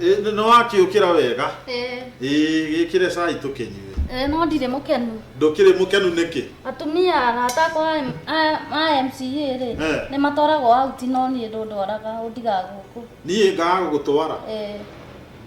Ĩ, nĩ wakĩũkĩra wega Eh, Ĩ, gĩkĩre cai tũkĩnyue eh, no ndirĩ mũkenu ndũkĩrĩ mũkenu nĩkĩ atumia arata akwa a M- a- a mca rĩ Eh. nĩ matwaragwo auti no niĩ ndũndwaraga ũndigaga gũkũ niĩ ngaga gũgũtwara Eh,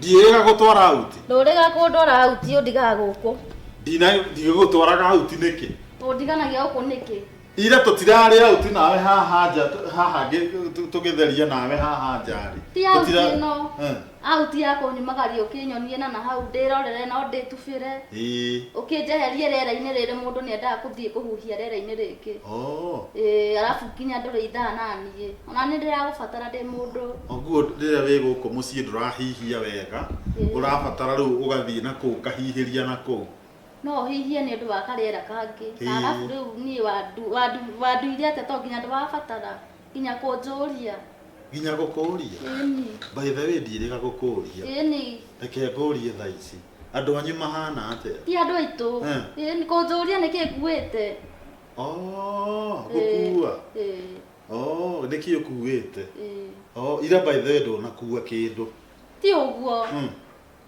ndiĩga gũtwara auti ndũrĩga kũndwara auti ũndigaga gũkũ Ndina- ndigũgũtwaraga auti nĩkĩ ũndiganagia gũkũ nĩkĩ ira tũtirarĩ auti nawe haha nja tũ- haha ngĩ- tũ- tũgĩtheria nawe haha nja rĩ ti Tũtira- auti ĩno Eh, auti ya kũnyumagaria ũkĩnyonie na na hau ndĩrorere no ndĩtubĩre ĩĩ. ũkĩnjeherie rĩera-inĩ rĩrĩ mũndũ nĩ endaga kũthiĩ kũhuhia rĩera-inĩ rĩngĩ Oh, Ĩĩ, arabu nginya ndũrĩithaa naniĩ ona nĩ ndĩragũbatara ndĩ mũndũ ũguo rĩrĩa wĩ gũkũ mũciĩ ndũrahihia wega Ĩĩ. ũrabatara rĩu ũgathiĩ na kũu ũkahihĩria na kũu no ũhihie nĩ ũndũ wa karĩera kangĩ Ĩĩ. arabu rĩu niĩ wandu- wandu- wanduire atĩa to nginya ndĩrabatara nginya kũnjũria nginya gũkũũria ĩni by the way ndirĩga gũkũũria ĩni reke ngũũrie thaa ici andũ anyu mahana atĩa ti andũ aitũ Eh. ĩni kũnjũria nĩkĩ nguĩte Oh, gũkuua Ĩĩ, Oh, nĩkĩ ũkuĩte ĩĩ. Oh, ira by the way ndũnakuua kĩndũ ti ũguo Mm.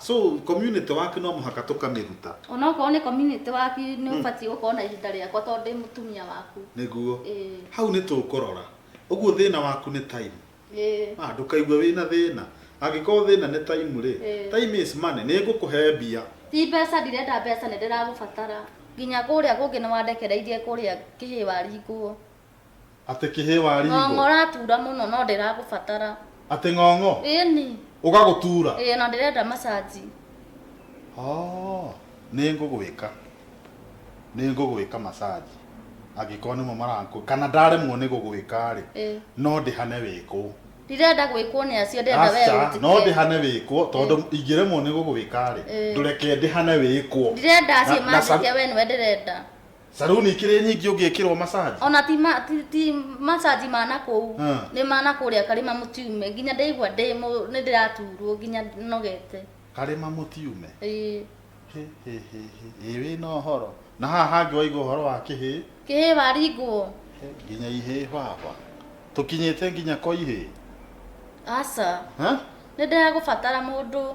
So community waku no mũhaka tũkamĩruta? O na okorwo nĩ community waku nĩ ũbatiĩ gũkorwo na ihinda rĩakwa tondũ ndĩ mũtumia waku. Nĩguo. Ĩĩ. Hau nĩ tũkũrora. Ũguo thĩna waku nĩ time? Ĩĩ. Ah, ndũkaigue wĩ na thĩna. Angĩkorwo thĩna nĩ time rĩ, Ĩĩ. time is money. Nĩ ngũkũhe mbia. Ti mbeca ndirenda mbeca nĩ ndĩragũbatara. Nginya kũrĩa kũngĩ nĩ wandekereirie kũrĩa kĩhĩĩ waringwo. Atĩ kĩhĩĩ wa Ng'ong'o ringo. ũratura mũno no ndĩragũbatara. Atĩ ng'ong'o Ĩni. ũgagũtura. Ĩĩ na ndĩrenda massage. Oh, nĩ ngũgwĩka. Nĩ ngũgwĩka massage. Angĩkorwo nĩmo marakũ. Kana ndaremwo nĩ gũgwĩka rĩ, Ĩĩ. no ndĩhane wĩkwo. Ndirenda gwĩkwo nĩ acio ndĩrenda wee Aca, ũnjĩke. no ndĩhane wĩkwo tondũ ingĩremwo nĩ gũgwĩka rĩ, Ĩĩ. ndũreke ndĩhane wĩkwo. Ndirenda acio Na- na sa- manjĩke wee nĩwe ndĩrenda. Saruni ikĩrĩ nyingĩ ũngĩkĩrwo massage. ona ti ma- ti- ti masaji ma na kũu Hmm. nĩ ma na kũrĩa karĩma mũtiume nginya ndaigua ndĩ mũ- nĩ ndĩraturwo nginya nogete Karĩma mũtiume. Ĩĩ. Hĩ, hĩ, hĩ, hĩ. Ĩ wĩ na ũhoro. Na haha hangĩ waigua ũhoro wa kĩhĩ. kĩhĩ waringwo Hĩ, Nginya ihĩ baba. Tũkinyĩte nginya kwa ihĩ. aca Ha? nĩ ndĩragũbatara mũndũ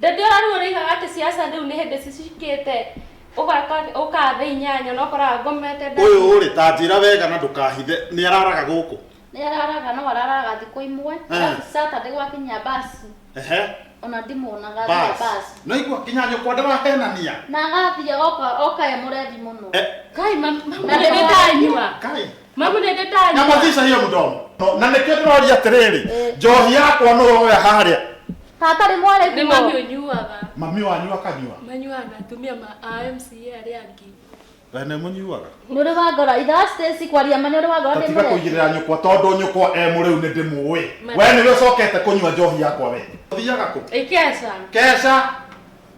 Ndĩndĩ ũrarigwo nĩoigaga atĩ ciaca rĩu nĩ hĩndĩ cicikĩte ũgaka ũkaa thĩ inyanya na ũkoraga ngomete nda. Ũyũ rĩ ta njĩra wega na ndũkahithe nĩ araraga gũkũ? Nĩ araraga no araraga thikũ imwe Eh. arabu Saturday gwakinya basi Ehe. ona ndimuonaga athiaga Bas. basi. Nĩwaigua nginya nyũkwa ndĩrahenania. Na agathiĩ oka oka e mũrebi mũno. Eh. Kai mam- mam- Na rĩrĩa ndanyua. Kai. Mamu nende tani. Nyamazisha hiyo mdomo. No, na nä kä ndä roria atä rä rä njohi yakwa nä woya harä a Tata nĩ mware Nĩ mami kuo. ũnyuaga. mami wanyu akanyua Manyuaga na atumia ma a MCA arĩa angĩ. wene må nyuaga Nĩ ũrĩ wa ngora. Ithe wa Stacy kwaria ma nĩ ũrĩ wa ngora ndĩ tatiga kå mũreke. igä rä ra nyåkwa tondå nyåkwa e må rä u nä ndä må ä Mami. we nä we å cokete kå nyua njohi yakwa we thiaga kå Ĩkeca. keca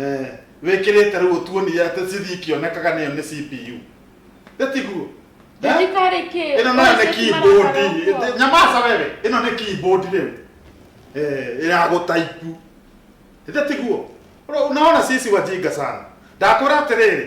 Eh, wĩkĩrĩte rĩu ũtuonire atĩ cithi ikĩonekaga nĩyo nĩ cpu ĩtiguo Thibitarĩ kĩ? ĩno nayo nĩ keyboard Ĩtĩ- nyamaca wewe ĩno nĩ keyboard rĩu Eh, ya gũtaipu ĩthe tiguo Ũrona- unaona sisi wajinga sana ndakwĩra atĩrĩrĩ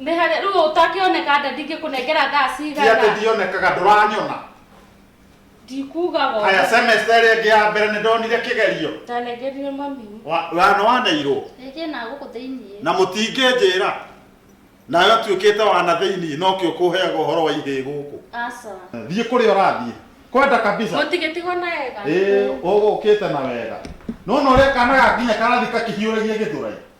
nä harä rä u ũtakä oneka nda ndingä kå nengera thaa ti atĩ cigana ndionekaga ndũranyona ndikugaga haya semester ĩrĩa ĩngĩ ya mbere nĩ ndonire kĩgerio ndanengerire mami Wa- wana waneirwo Rĩngĩ na gũkũ thĩinĩ. na mũtingĩnjĩra nawe atuĩkĩte wana thĩinĩ nokĩo kũheaga ũhoro wa ihĩ gũkũ Aca. thiĩ kũrĩa ũrathiĩ kwenda kabisa må tigä tigwo na wega ĩĩ ũgũkĩte na wega nona ũrĩa kana gakinya karathi kakihiũragia gĩthũrai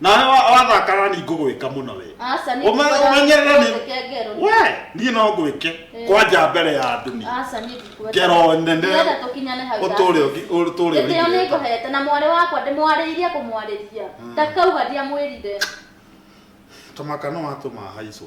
nawe wa- wathakana ni ngũgwĩka mũno we Aca nĩ Ũme- ngũkwĩra ũmenyerera nĩ- ndũgeke ngero. we niĩ no ngwĩke Eh. kwanja mbere ya andũ ni Aca nĩ ngũkwĩra. ngero nene Ndĩrenda tũkinyane hau ũtũre David. ũgi- ũtũre Gĩtĩo nĩ ũrigĩte. ngũhete na mwarĩ wakwa ndĩmwarĩirie kũmwarĩria. Ndakauga ndiamwĩrire. tũmaka no atũma haicũ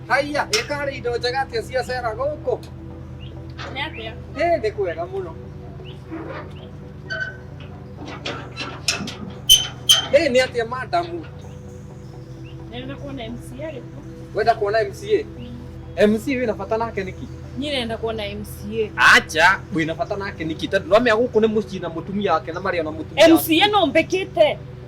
Haiya, ĩkarĩ indo njega atĩa ciacera gũkũ? Nĩ atĩa? Ĩ, nĩ kwega mũno. Ĩ, nĩ atĩa madamu? Nenda kuona MCA rĩkũ? Wenda kuona MCA? MCA wĩna bata nake nĩkĩ? Niĩ nenda kuona MCA. Acha, wĩna bata nake nĩkĩ? Tondũ ndũramenya gũkũ nĩ mũciĩ na mũtumia wake na marĩ ona mũtumia wake. MCA no mbĩkĩte.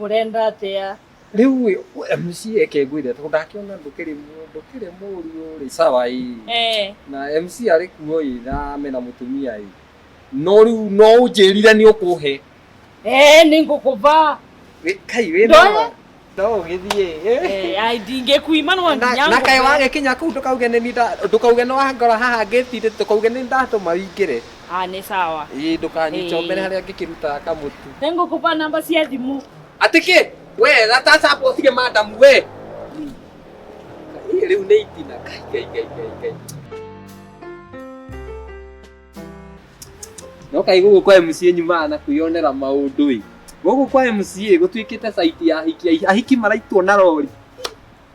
Ũrenda atĩa? Rĩu ĩ, we MC eke ngwĩre tondũ ndakĩona ndũkĩrĩ mũ- ndũkĩrĩ mũriũ rĩ sawa ĩ Eh, na MC arĩ kuo ĩ na mena mũtumia ĩ no rĩu no ũnjĩrire nĩ ũkũhe eh, nĩ ngũkũva. Wĩ- kai wĩ Ndoe? na no ũgĩthiĩ ĩ. Eh, ai, ndingĩkuima no Na- nginya na kaĩ ngũkũve. wagĩkinya kũu ndũkauge nĩ niĩ nda- ndũkauge nĩ wangora haha ngĩtirĩ ndũkauge nĩ ndatũma wingĩre Ah, nĩ sawa. Ii ndũkanyite Ĩĩ. ũmere harĩa ngĩkĩrutaga kamũtu. Nĩngũkũpa namba cia thimũ. Atĩ kĩ? We gataca amba ũtige madamu we. Ii rĩu nĩ itina. Kai, kai, kai, kai, kai. No kai gũkũ kwa MCA nyumaga na kwĩyonera maũndũ ĩ. Gũkũ kwa MCA gũtuĩkĩte site ya ahiki, ahiki maraitwo na rori.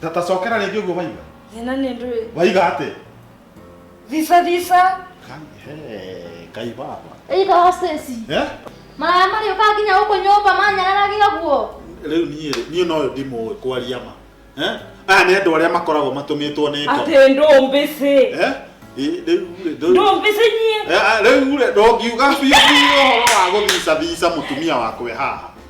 Tata cokera rĩngĩ ũguo waiga. Thĩna nĩ ndũĩ. Waiga atĩ. Visa visa. Kai baba. Iga hosesi. Eh? Maya mari uka nginya huko nyumba manyararagia guo. Rĩu niĩ niĩ no ndimũ kwaria ma. Eh? Aya nĩ andũ arĩa makoragwo matũmĩtwo nĩ ngoma. Atĩ ndũmbĩ cĩ. Eh? ndũmbici nyie rĩu rĩ ndũngiuga biũ biũ ũhoro wa gũthica thica mũtumia wakwe haha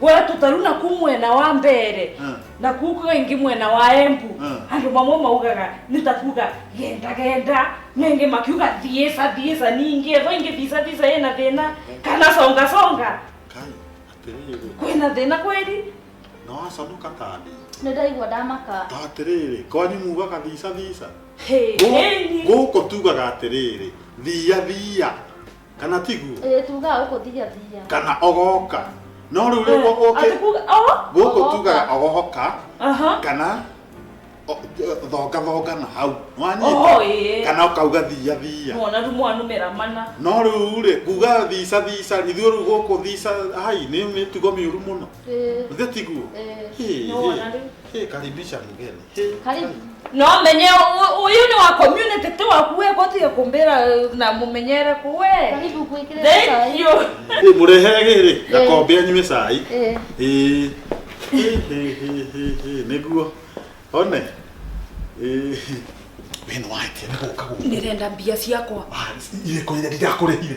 we tutaru na ku mwena wa mbere Mm. na ku kwa ingi mwena wa embu Mm. andu mamwe maugaga nitakuga genda genda nenge makiuga thiesa thiesa ningi evo ingi visa visa yena thina kana songa songa kai atiriri kwina thina kweli no asaduka tadi nä ndaigua ndamaka ta atiriri kwanyu mugaga visa visa Hey, Gu- hey. guku tugaga atiriri thia thia kana tiguo Ĩĩ, tugaga gũkũ thigathiga. kana ogoka no rĩu rĩu gũkũ Atĩ kuga- oh, gũkũ ogoka. tugaga ogoka Aha. kana o- thonga thonga na hau Oho, wanyita ĩĩ. kana ũkauga thiia thiia Mwana tu mwana numera mana. no rĩu rĩ kuga thica thica ithuĩ rĩu gũkũ thica hai nĩ mĩtugo mĩũru mũno Ĩĩ, githĩ tiguo ĩĩ. Hĩ, Nĩ wona hĩ, rĩu. hĩ, karibisha mgeni Karibu. No menye u- uyu ni wa community tu wakuwe koti ya kumbira eh, na mumenyere kuwe. Karibu kuikire Thank you. Ĩ, mũrehere gĩrĩ gakombe anyue cai Eh. Ĩ, hĩ, hĩ, hĩ, hĩ, hĩ, nĩguo one Ĩ, wĩna wake nĩgũka gũka Ndirenda mbia ciakwa. irĩkũ iria ndirakũrĩhire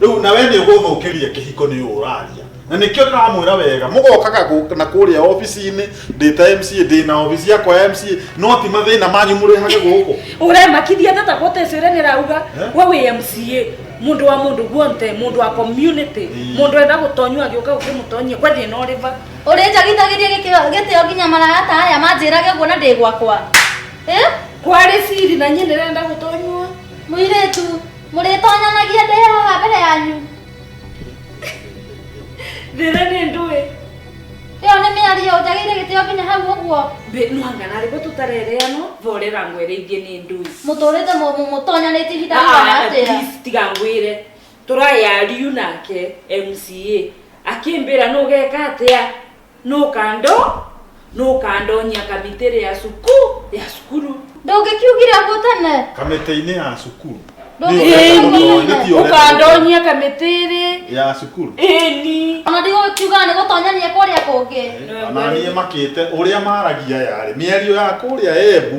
rĩu na we nĩ ũgũthũkĩria kĩhiko nĩ ũũ ũraria na nĩkĩo ndĩramwĩra wega mũgokaga gũ- na kũrĩa obici-inĩ ndĩ ta mca ndĩ na obici yakwa ya mca no ti mathĩna manyu mũrehage gũkũ uremakithia tata gutecire nirauga Eh? we wi mca mundu wa mundu guonte mundu wa community Mm. mundu enda gutonywa agiuka ukimutonyia kwe thina uriva ũrĩnjagithagĩria gĩkĩo- gĩtĩo nginya maragata aya manjĩrage ũguo na ndĩ gwakwa Eh? kwari siri na nyie nirenda gutonywa mũirĩtu mũrĩtonyanagia ndĩ haha mbere yanyu thĩra nĩ ndũĩ ĩyo nĩ mĩario njagĩire gĩtĩo nginya hau ũguo mwangana rĩgo tũtarereano vorera ngwere ingĩ nĩ ndũi mũtũrĩte mũtonyanĩtie ihinda rĩigana ah, atĩa tiga ngwĩre tũrayariu nake mca akĩmbĩra nũgeka atĩa nũkando nũkandonyia kamĩtĩrĩ ya cuku ya cukuru ndũngĩkiugire ngũtane kamĩtĩ-inĩ ya cukuru Ĩni, ũkandonyia kamĩtĩrĩ ya cukuru ĩni ona ndigũkiuga nĩ gũtonyania kũrĩa kũngĩ ananiĩ makĩte ũrĩa maragia yarĩ mĩario ya kũrĩa embu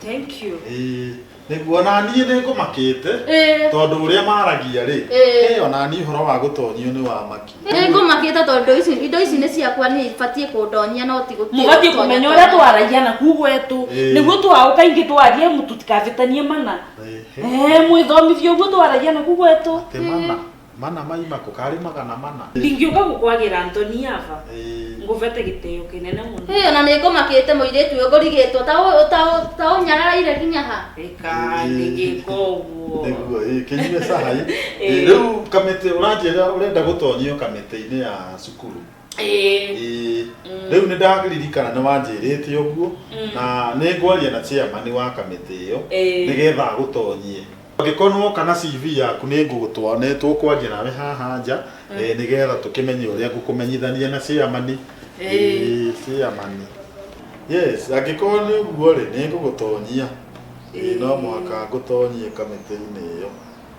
Thank you. Ĩĩ, nĩguo ona niĩ nĩ ngũmakĩte Ĩĩ. tondũ ũrĩa maragia rĩ Ĩĩ. ĩĩ, ona niĩ ũhoro wa gũtonyio nĩ wamaki nĩ ngũmakĩte tondũ ici indo ici nĩ ciakwa nĩ ibatiĩ kũndonyia no ti gũtiĩ mubatiĩ gũtonya kumenya ũrĩa tonya. twaragia na kuu gwetũ Ĩĩ. nĩguo twaũ kaingĩ twarie mũtu tikavĩtanie mana Ĩĩ. Eh, mwĩthomithie ũguo twaragia na kuu gwetũ Ati mana Mana maima kũ? Karĩ magana mana? Ndingĩũka gũkwagĩra Anthony ava. Ĩĩ. Ngũvete gĩtĩo kĩnene mũno. Ĩĩ, o na nĩngũmakĩte mũirĩtu ũyũ ngũrigĩtwo, ta ũ- ta ũ- ta ũnyararaire nginya ha? Ĩka, ndĩngĩka ũguo. Nĩguo, ĩĩ, kĩnyue cai. Ĩĩ. Ĩĩ, rĩu kamĩtĩ, ũranjĩra ũrenda gũtonyio kamĩtĩ-inĩ ya cukuru? Eh, Ĩĩ. Mm. rĩu nĩ ndaririkana nĩ wanjĩrĩte ũguo Mm. na nĩ ngwaria na chairman wa kamĩtĩ ĩyo eh, nĩgetha agũtonyie angĩkorwo nĩ woka na CV yaku nĩ ngũgũtwa nĩ tũkwaria nawe haha nja Mm. eh, nĩgetha tũkĩmenye ũrĩa ngũkũmenyithania na chairman Eh. Ĩĩ, chairman yes angĩkorwo nĩ ũguo rĩ nĩ ngũgũtonyia Ĩĩ, no mũhaka ngũtonyie kamĩtĩ-inĩ ĩyo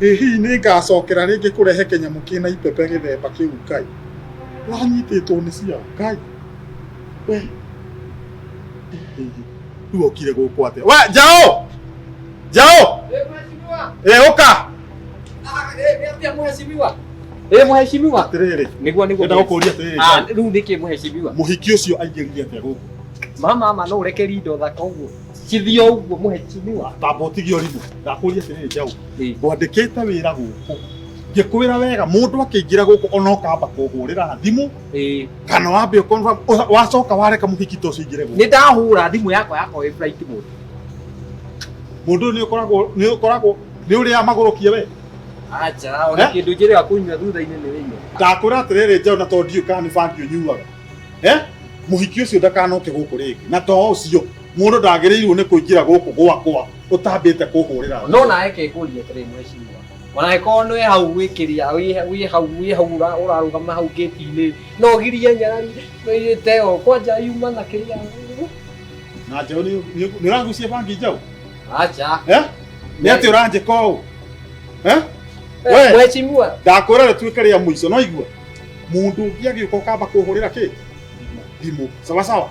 ĩ hihi nĩ ngacokera rĩngĩ kũrehe kĩnyamũ kĩna ipepe gĩthemba kĩu ngai ũranyitĩtwo nĩ cia ngai we rĩu okire gũkũ atĩa we njaũ njaũ ĩ ũka ä må hecimiwa atĩrĩrĩ nä guo nä guo enda gũkũria atĩrĩrĩ Ah, ngai, rä u nä kä må hecimiwa mũhiki ũcio aingĩrire atĩa gũkũ mama ma no å rekeri indo thaka å guo Kithio uguo muheshimiwa. Baba utige urimu. Ndakuria tiriri jau. Ngwandikite wira guku. Ngikwira wega mundu akingira guku ona ukamba kuhurira thimu. Eh. Kana wambe ukonfa wacoka wareka muhiki to cingire guku. Ni ndahura thimu yakwa yakwa wi flight mode. Mundu ni ukoragwo ni ukoragwo ni uri amaguru kie we. Acha, ona eh? kindu njire akunywa thutha-ini ni rinyo. Ndakwira atiriri jau na to ndiu kana ni bangi unyuaga. Eh? Muhiki ucio ndakanoke guku ringi. Na to ucio. Mũndũ ndagĩrĩirwo nĩ kũingĩra gũkũ gwakwa ũtambĩte kũhũrĩra thimũ. No nawe ke ngũrie atĩrĩ mwĩcirwa, ona angĩkorwo nĩ wĩ hau wĩ kĩrĩa wĩ wĩ hau wĩ hau ũra- ũrarũgama hau gĩti-inĩ no ũgirie nyarari ĩte ĩyo kwanja yuma na kĩrĩa Na njaũ nĩ nĩ- nĩ ũrangucia bangi njaũ? acha Eh? Nĩ atĩ ũranjĩka ũũ? Eh? We. mwecimua Ndakwĩra rĩtuĩke rĩa mũico, no igua? Mũndũ ũngĩ agĩũka ũkamba kũhũrĩra kĩ? Thimũ. Sawa sawa?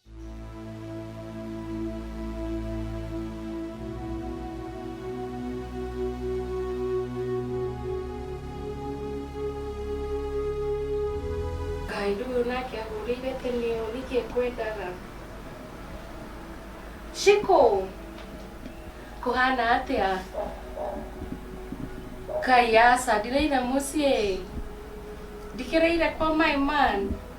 Kaĩndũ ũyũ nake ahũrĩire tĩnĩo nĩkĩ ekwendaga cikũ kũhana atĩa kai aca ndireire mũciĩ ndikĩreire kwa my man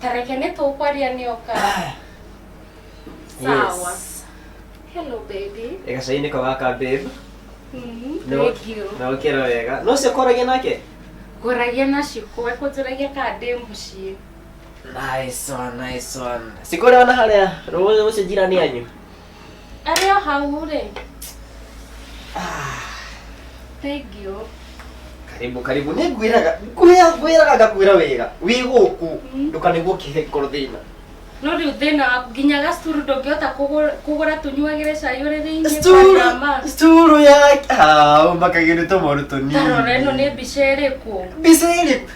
Ta reke nĩ tũkwaria nĩ oka. Sawa. Yes. Hello baby. Eka cainĩ ko gaka babe. Mm, No- thank you. Na ũkĩra wega. No ũcio ũkoragia nake? Ngũragia na cikũ, ekũnjũragia kana ndĩ mũciĩ. Nice one, nice one. Sikore wana harĩa rũĩ rũcio jirani yanyu. Arĩ o hau rĩ. Thank you. karibu karibu nä ngwäraga ngwäraga ngakwä wega wä gå kå ndåkanä gå kä he ngoro thä na No rĩu thĩna waku nginya gacuru ndũngĩhota kũgũ- kũgũra tũnyuagĩre cai ũrĩ thĩinĩ Karama. sturu ya makagä nä tå moru tå Tarora ĩno nĩ nini mbica ĩrĩkũ? mbica ä rä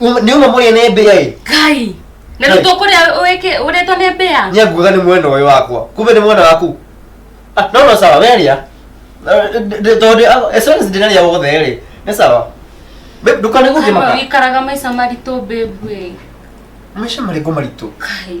Uma- nĩ uma mũrĩa nĩ mbĩa ĩ ngai na Ngai. rĩu tũkũrĩa wĩke ũrĩtwo nĩ mbĩa nĩ nguga nĩ mwena ũyũ wakwa kumbe nĩ mwena waku Ah, no no sawa weria tondũ as long as ndĩrarĩa wothe rĩ nĩ sawa Babe, ndũkanĩgũthiĩ Ama maka wikaraga maica maritũ mbĩmbuĩ maica marĩkũ maritũ ngai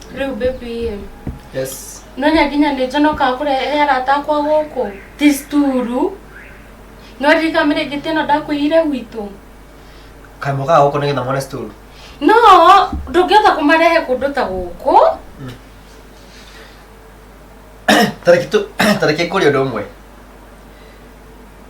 Rĩu baby ĩ. Yes. No nyaginya nĩ njonoka kũrehe arata akwa gũkũ. Ti sturu. No rika mire gite no ndakuire gwitũ. Kaimo ka gũkũ nĩgetha mone sturu. No ndũngĩhota kũmarehe kũndũ ta gũkũ. Tareki tu tareki kũrĩ ũndũ ũmwe.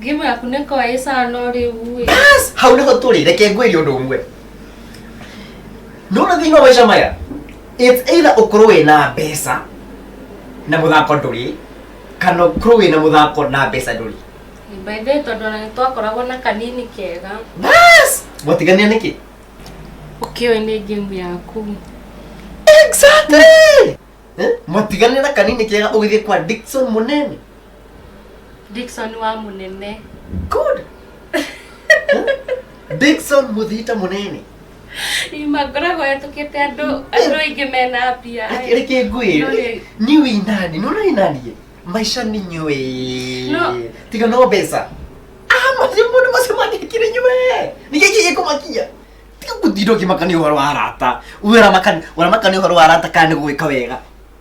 Ngimu yaku nä ko ä cano rä u ä Yes! hau nĩho tũrĩ reke ngwĩrie ũndũ ũmwe nũna thĩinĩ wa maica maya it's either ũkorwo wĩ na mbeca na mũthako ndũrĩ kana ũkorwo wĩ na mũthako na mbeca ndũrĩ mbaithä tondå ona nä twakoragwo na kanini kega Yes! mwatiganĩa nĩkĩ å kä oä nä ngä mu yaku exactly Eh? mwatiganĩa na kanini kega ũgĩthiĩ kwa Dickson mũnene Dickson wa munene good Dickson muthita munene ima ngoragwo hetũkĩte andũ andũ aingĩ mena mbia Reke- reke ngwĩre Nũrĩ. ni wĩ nani nũ nĩ naniĩ maica nĩ nyũĩ No. tiga no mbeca Ah, macio mũndũ macio mandĩkire nyũe nĩ gĩkĩ gĩkũmakia tiga gũtinda ũkĩmakania ũhoro wa arata ũramakania ũramakania ũhoro wa arata kana nĩ gũgĩka wega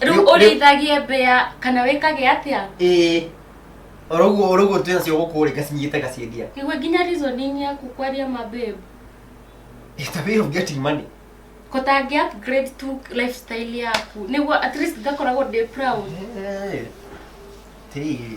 rä u Nĩ- å nĩ- rä ithagie mbä ya kana wä kage atä a ĩĩ oro ũguo oro ũguo twĩ nacio gũkũ rĩ ngacinyite ngaciendia igwe nginya reasoning yaku kwaria mababe ta wĩra ũngĩ ati money kå tangä upgrade tu lifestyle yaku nä guo at least ngakoragwo ndä proud Hey, hey.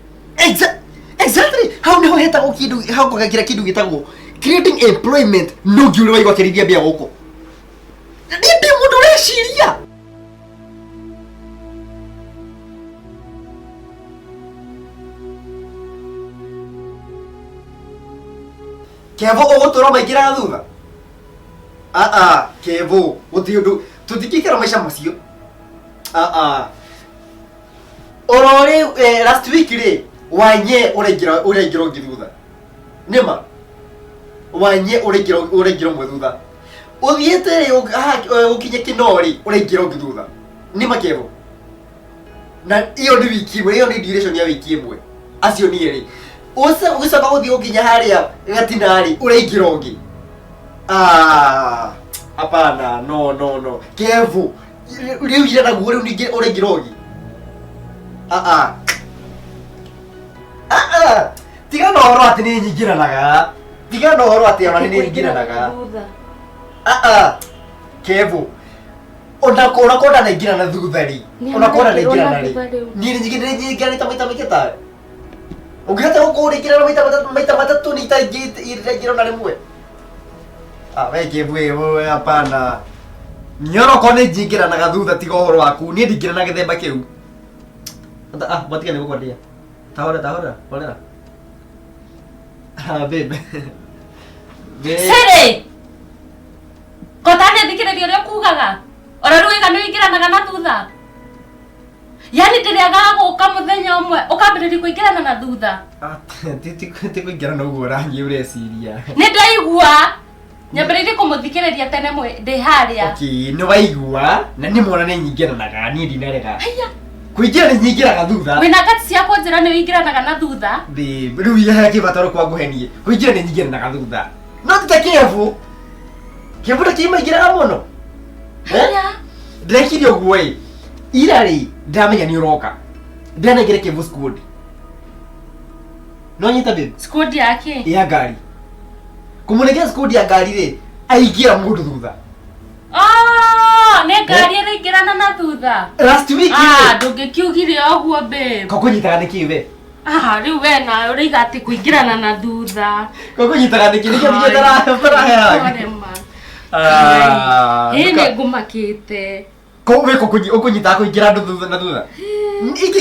Exa- exactly hau niho hetagwo kindu hau ngogagira kindu gitagwo creating employment no ngiure waigwa kirithia mbia guku ni ndi mundu ureciria kevo ugutura maingira thutha aa kevo guti undu tuthikikira maica macio aa orori eh, last week rä wanye ũraingĩra ũraingĩra ũngĩ thutha nĩma wanye ũraingĩra ũraingĩra ũmwe thutha ũthiĩte rĩ ũg- haha, eh, ũkinye kĩno rĩ ũraingĩra ũngĩ thutha nĩma kevo na iyo nĩ wiki ĩmwe iyo nĩ duration ya wiki ĩmwe acio niĩ rĩ Ũce- ũgĩcoka gũthiĩ gũkinya harĩa gatina rĩ ũraingĩra ũngĩ Ah, hapana no no no kevo rĩu ira naguo rĩu ningĩ ũrĩngĩ rogi aa aa tiga na ũhoro atĩ nĩ nyingĩranaga tiga na ũhoro atĩ ona nĩ nyingĩranaga Thutha. aa kevo ona kona kona naingĩrana thutha rĩ Nĩ ona kona araingĩrwo na naingĩrana rĩ thutha rĩu. niĩ nĩ nyingĩranĩte maita maingĩ tawe Ũngĩhota gũkũrĩkĩra maita matatũ maita matatũ nĩ itangĩra na rĩmwe. Ah, we ngĩmbu ĩ we hapana. Nyoroko nĩ njingĩranaga thutha tiga ũhoro waku. Niĩ ndingĩra na gĩthemba kĩu. Ata- Ah, matiga nĩ gũkwendia. Tahora tahora, horera. Ah, babe. Babe. Siri! Kotane thikĩrĩria ũrĩa kugaga. Ora rũiga nĩ ũingĩranaga na thutha. yani ndĩrĩaga gũka mũthenya ũmwe ũkambĩrĩria kũingĩrana na thutha ti kũingĩra na ũguo rangi ũreciria nĩ ndaigua nyambĩrĩirie kũmũthikĩrĩria tene ndĩ harĩa nĩ waigua na nĩ mwana nĩ nyingĩranaga niĩ ndinarega kuingira ni nyingiraga thutha wina kati cia kunjira ni uingiranaga na thutha ndi riu ya kibataro kwa guhenie kuingira ni nyingiranaga thutha no tita kivu kivu ta kimaingiraga muno eh? ndekire uguo ii ira rĩ ndamenya nĩ ũroka ndanengere kĩmbu squad no nyita babe squad yake ya ngari kũmũnengera squad ya ngari rĩ aingĩra mũndũ thutha Oh, nĩ ngari ĩraingĩrana na thutha last week Ah, rĩ ndũngĩkiugire ũguo babe ko kũnyitaga nĩ kĩĩ we Ah, rĩu we na ũraiga atĩ kũingĩrana na thutha ko kũnyitaga nĩ kĩĩ nĩkĩo nĩkĩo ndara- ndaraheaga Sorry, ma. Ah, Ĩĩ nduka- nĩngũmakĩte Kau wä ko å kå nyitaga kå ingä andå thutha na thutha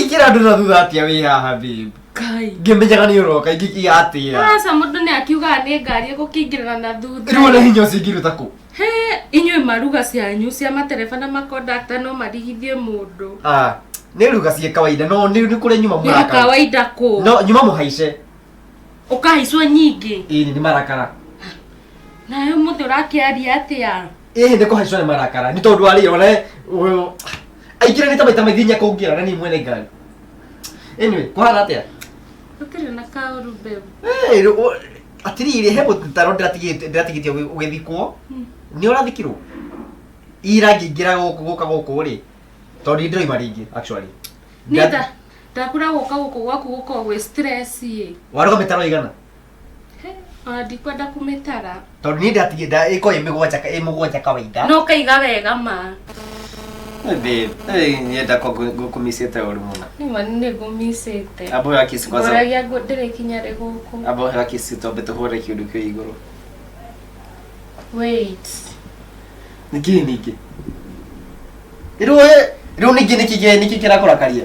ingä ra andå na thutha atä a wä haha babe Kai. ngä menyaga nä å roka igatä ra Aca mũndũ nĩ akiugaga nĩ ngari ĩgũkĩingĩrĩra na thutha. rä u ona hinya å cio ingä ruta kå He, inyuĩ maruga cianyu cia matereba na makondakta no marigithie mũndũ. nä ruga ciä kawaida no nä kå rä a nyuma Nĩ må kawaida kũ? no nyuma må haice Ũkahaicwo nyingĩ. ä nä marakara Nawe mũthĩ ũrakĩaria atĩa? ĩhĩ nĩ kũhaicwo nĩ marakara nĩ tondũ arĩ ona ũyũ aingĩra nĩ ta maita maingĩ inya kũngĩra na niĩ mwene ngari anyway kũhana atĩa Gũtirĩ na kaũru babe. Hey, rũ- ũ- atirĩrĩ he mũtaro ndĩratigĩte- ndĩratigĩtie ũgĩ- ũgĩthikwo nĩ ũrathikirwo ira ngĩingĩra gũkũ gũka gũkũ rĩ tondũ nĩ ndĩroima rĩngĩ actually Nitha, ndakura gũka gũkũ gwaku gũkorwo gwĩ stress ĩ. warũga mĩtaro igana Ona ndikwenda kũmĩtara. Tondũ niĩ ndatigie nda ĩko ĩ mĩgwanja ka- ĩ mũgwanja kawaida. No kaiga wega ma. Babe, eh, nyenda ko ngũkumicĩte ũru mũno. Nĩma nĩ ngũmicĩte. Abo ya kiss kwanza. Ngoragia ngũ- ndĩrĩ kinya rĩ gũkũ. Abo ya kiss tombe tũhũre kĩndũ kĩo igũrũ. Wait. Nĩkĩ ningĩ? Rĩu we, rĩu ningĩ nĩkĩ kĩ- nĩkĩ kĩrakũrakaria?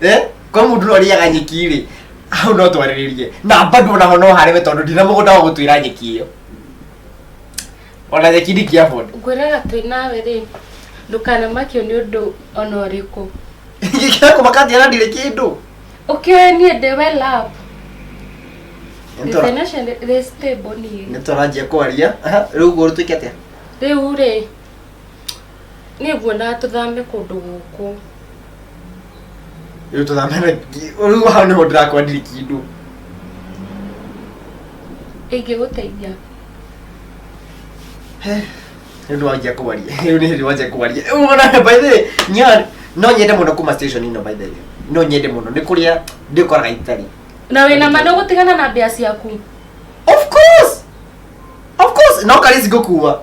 eh kwa mundu no riaga nyeki ri hau no twariririe na bado na no hare we tondu ndina mugunda wa gutwira nyeki iyo ona nyeki ndi kia bodo ngwĩraga twĩ nawe rĩ ndũkanamakio nĩ ũndũ ona ũrĩkũ ngikira kumakathia na ndire kindu ũkĩoe niĩ ndĩ we love the financial rĩ stable niĩ nitũranjia kwaria riu guo tuike atia rĩu rĩ Niĩ nguona tũthame kũndũ gũkũ. Rĩu tũthame na rĩu hau nĩho ndĩrakwandire kĩndũ. Ingĩgũteithia. He, rĩu nĩ wanjia kũwaria. Rĩu nĩ hĩndĩ wanjia kũwaria. Rĩu ona by the way, nyar no nyende mũno kuma station ino by the way. No nyende mũno nĩ kũrĩa ndĩkoraga itarĩ. Na wĩna ma ndũgũtigana na mbia ciaku. Of course. Of course, no karizi ngũkuwa.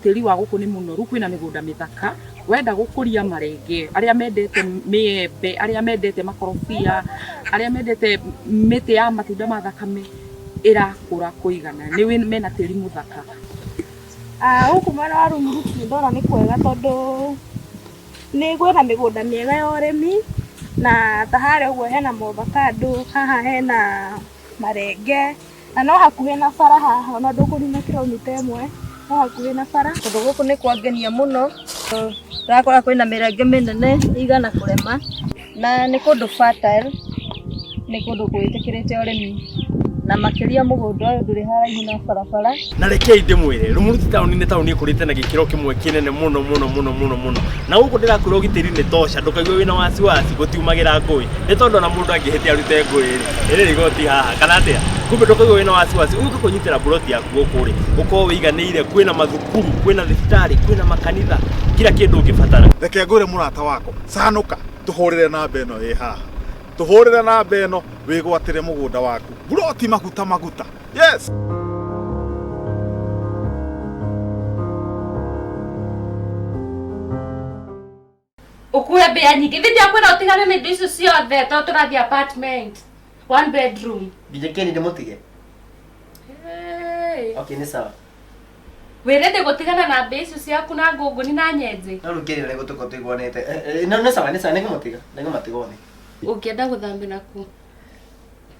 Tĩri wa gũkũ nĩ mũnoru, kwĩna mĩgũnda mĩthaka. Wenda gũkũria marenge, arĩa mendete mĩembe, arĩa mendete makorobia, arĩa mendete mĩtĩ ya matunda ma thakame, ĩrakũra kũigana. Nĩ mena tĩri mũthaka. Gũkũ mwena wa Rũng'uthu niĩ ndona nĩ kwega tondũ nĩ kwĩna mĩgũnda mĩega ya ũrĩmi, na ta harĩa ũguo hena maovakando, haha hena marenge. Na no hakuhĩ na bara haha, ona ndũkũnina kiromita ĩmwe, no hakuhĩ na bara. Kũndũ gũkũ nĩ kwangenia mũno, ũrakora kwĩna mĩrenge mĩnene ĩigana kũrema, na nĩ kũndũ fertile, nĩ kũndũ gwĩtĩkĩrĩte ũrĩmi, na makĩria mũgũnda ũyũ ndũrĩ haraihu na barabara. na rekei ndĩmwĩre rumuruti taũni nĩ taũni ĩkũrĩte na gĩkĩro kĩmwe kĩnene mũno mũno mũno mũno mũno na gũkũ ndĩrakwĩra ũgitĩri nĩ toca ndũkaigue wĩna wasiwasi gũtiumagĩra ngũĩ nĩ tondũ ona mũndũ angĩhĩtia arute ngũĩ rĩ ĩrĩ rigoti haha kana atĩa kumbe ndũkaigue wĩna wasiwasi ũgĩka kũnyitĩra mburoti yaku gũkũ rĩ ũkorwo wĩiganĩire kwĩna mathukuru kwĩna thibitarĩ kwĩna makanitha kira kĩndũ ũngĩbatara reke ngwĩre mũrata wakwa canũka tũhũrĩre namba ĩno ĩ haha tũhũrĩre namba ĩno wĩgwatĩre mũgũnda waku mburoti maguta maguta yes. ukuwe mbia nyingä thä ndä akwä utigane na indo icio ciothe to tå rathiä apartment one bedroom Githĩ kĩni ndĩmũtige? hey. Okay, nĩ sawa. wä rä ndä gå tigana na mbia icio ciaku na ngå ngå ni na nyenjä No rĩu kĩni ũrĩa gũtuko tũiguanĩte. Eh, eh, no- Nĩ sawa, nĩ sawa, nĩngũmũtiga. Nĩngũmatiga one. å ngä enda gå thambä nakuo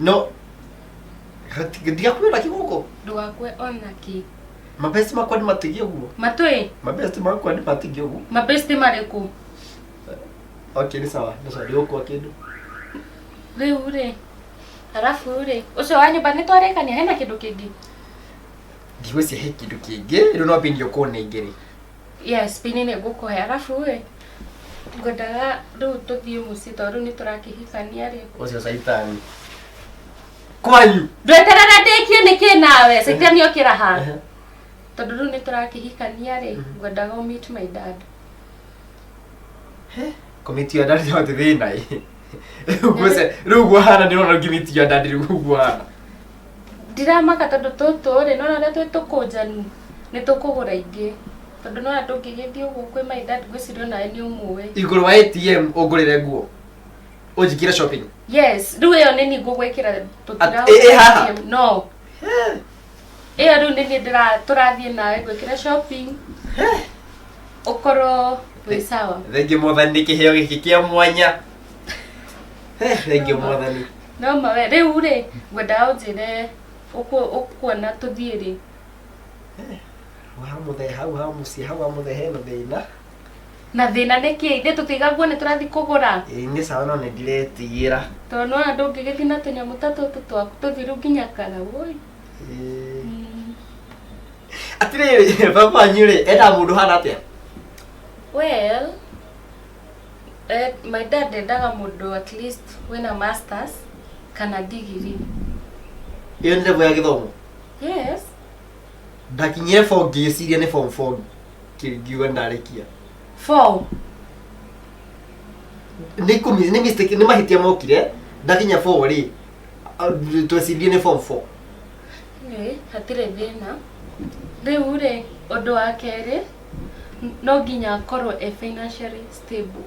no Rati- ndigakwĩra kĩgũkũ ndũgakue ona kĩ mabesti makwa nĩ matige ũguo matwĩ mabesti makwa nĩ matige ũguo mabesti marĩkũ okay nĩ sawa nĩ sawa ndigũkua kĩndũ rĩu rĩ arabu rĩ ũcio wa nyũmba nĩ twarĩkania hena kĩndũ kĩngĩ ndigwĩcia he kĩndũ kĩngĩ rĩu no mbindi ũkũnengere Yes, pini nĩ ngũkũhe. Arabu ĩ, ngwendaga rĩu tũthiĩ mũciĩ tondũ rĩu nĩ tũrakĩhikania rĩ. Ũcio caitani. Kwayu. Ndweterera ndĩkie nĩkĩ nawe? Caitani okĩra ha? Tondũ rĩu nĩ tũrakĩhikania rĩ, ngwendaga ũ meet my dad. Komiti ya dadi yote thĩna ĩ. Rĩu guo hana nĩ ũrona ngimiti ya dadi rĩu guo hana. Ndiramaka tondũ tũtũ rĩ, nĩ wona ũrĩa twĩ tũkũnjanu, nĩ tũkũgũra ingĩ. Tondũ nĩ wona ndũngĩgĩthiĩ ũguo kwĩ my dad ngwĩciria o nawe nĩ ũmũĩ. Igũrũ wa ATM ũngũrĩre nguo. Ũnjĩkĩre shopping. Yes, rĩu ĩyo nĩ niĩ ngũgwĩkĩra tũtira At- ĩ- ĩ haha? ATM. No. Ĩyo rĩu nĩ niĩ ndĩra tũrathiĩ nawe ngwĩkĩre shopping. Ũkorwo wĩ sawa. Thengiũ mwathani nĩ kĩheo gĩkĩ kĩa mwanya. Eh, Thengiũ mwathani. No ma we rĩu rĩ ngwendaga ũnjĩre ũkũ- ũkuona tũthiĩ rĩ wamũthe hau hamuciĩ hau wamũthe hena thĩna na thĩna nĩ kĩ ithe tũtigaguo nĩ tũrathiĩ kũgũra Ĩĩ, nĩ sawa no nĩ ndiretigĩra tondũ nona ndũngĩgĩthiĩ na tũnyamũ ta tũtũ twaku tũthiĩ rĩu nginya kara woi Ĩĩ. atĩrĩrĩ baba wanyu rĩ enda mũndũ hana atĩa well My dad endaga mũndũ at least wĩna masters kana ndigiri. Ĩyo nĩ level ya gĩthomo. Yes. Ndakinyire form ngĩciria nĩ form four ngiuga ndarĩkia. Four? Nĩ kũmi nĩ mistake nĩ mahĩtia mokire ndakinya four rĩ twecirie nĩ form four. Anyway hatirĩ thĩna. Rĩu rĩ ũndũ wa kerĩ no nginya akorwo e financially stable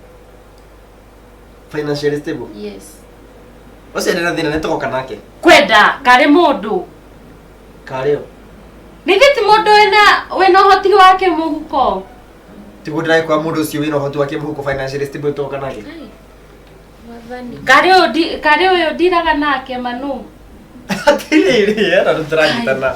financially stable yes ũcio nĩ thĩna nĩ tũgoka nake kwenda karĩ mũndũ karĩo nĩgĩ ti mũndũ wĩna wĩna ũhoti wake mũhuko tiguo ndĩraĩ kwa mũndũ ũcio wĩna ũhoti wake mũhuko financially stable tũgoka nake karĩ ũyũ karĩ ũyũ ndiraga nake manũ atĩrĩrĩ ena tũtiranyitana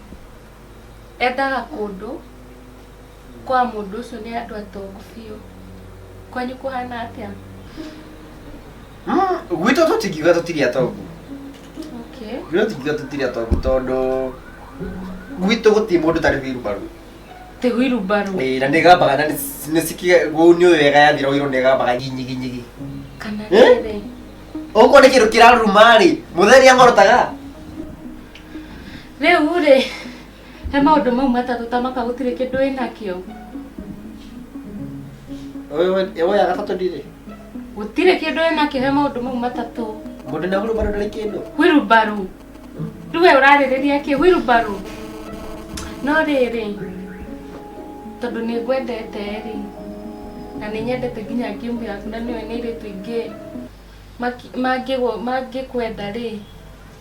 Endaga kũndũ kwa mũndũ ũcio nĩ andũ atongu biũ. Kwanyu kũhana atĩa? Mm, gwitũ tũtingiuga tũtirĩ atongu Okay. gwitũ tũtingiuga tũtirĩ atongu tondũ gwitũ gũtirĩ mũndũ tarĩ wĩrubaru Tĩgwiru mbaru Ĩĩ, na nĩ gambaga na nĩcikiũni ũyũ wega yathira ũirwo nĩ gambaga nyiginyiginyi kana Eh? rĩrĩ. okorwo nĩ kĩndũ kĩraruma rĩ mũthee rĩa ngorotaga Rĩu rĩ, he maũndũ mau matatũ ta maka gũtirĩ kĩndũ wĩnakĩo. Ĩwe ya gatatũ ndirĩ. Gũtirĩ kĩndũ wĩnakĩo he maũndũ mau matatũ. Mũndũ na hurumbarũ ndarĩ kĩndũ. Hurumbarũ. Rĩu we ũrarĩrĩria kĩ? Hurumbarũ. No rĩrĩ, tondũ nĩ ngwendete rĩ, na nĩ nyendete nginya game yaku na nĩũĩ nĩ airĩtu aingĩ mangĩkwenda rĩ,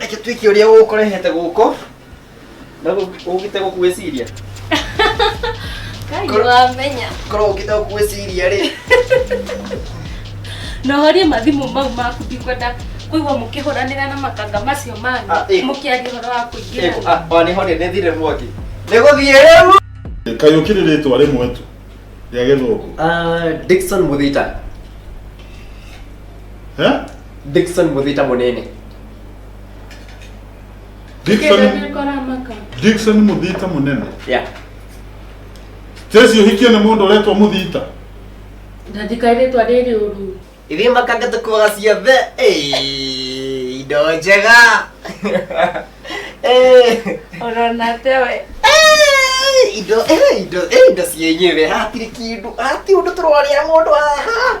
reke twĩke ũrĩa ũkũrehete gũkũ na ũgĩte gũkwĩciria Kaĩ wamenya. korwo ũgĩte gũkwĩciria rĩ Na horie mathimũ mau maku ndikwenda kũigua mũkĩhũranĩra na makanga macio manyu Ah, ĩĩ. mũkĩaria ũhoro wa kũingĩra. wanĩhorire nĩ thire mwaki nĩ gũthiĩ rĩu kayũki nĩ rĩtwa rĩmwe tu rĩa gĩthũngũ Ah, Dickson Muthita Eh? Dickson Muthita Munene. Dickson Kĩndũ koramaka. Dickson Muthita Munene. Yeah. Tesi uhikie na mundu uretwa Muthita. Ndandikairĩtwa rĩrĩ ũru. Ithiĩ makanga tũkuaga ciothe. Ĩĩ, Indo njega. Ĩĩ. Ũrona tewe. Ĩĩ, Indo, ĩĩ, indo, ĩĩ, indo cienyewe. Hatirĩ kĩndũ, hati ũndũ tũrorĩa mũndũ haha.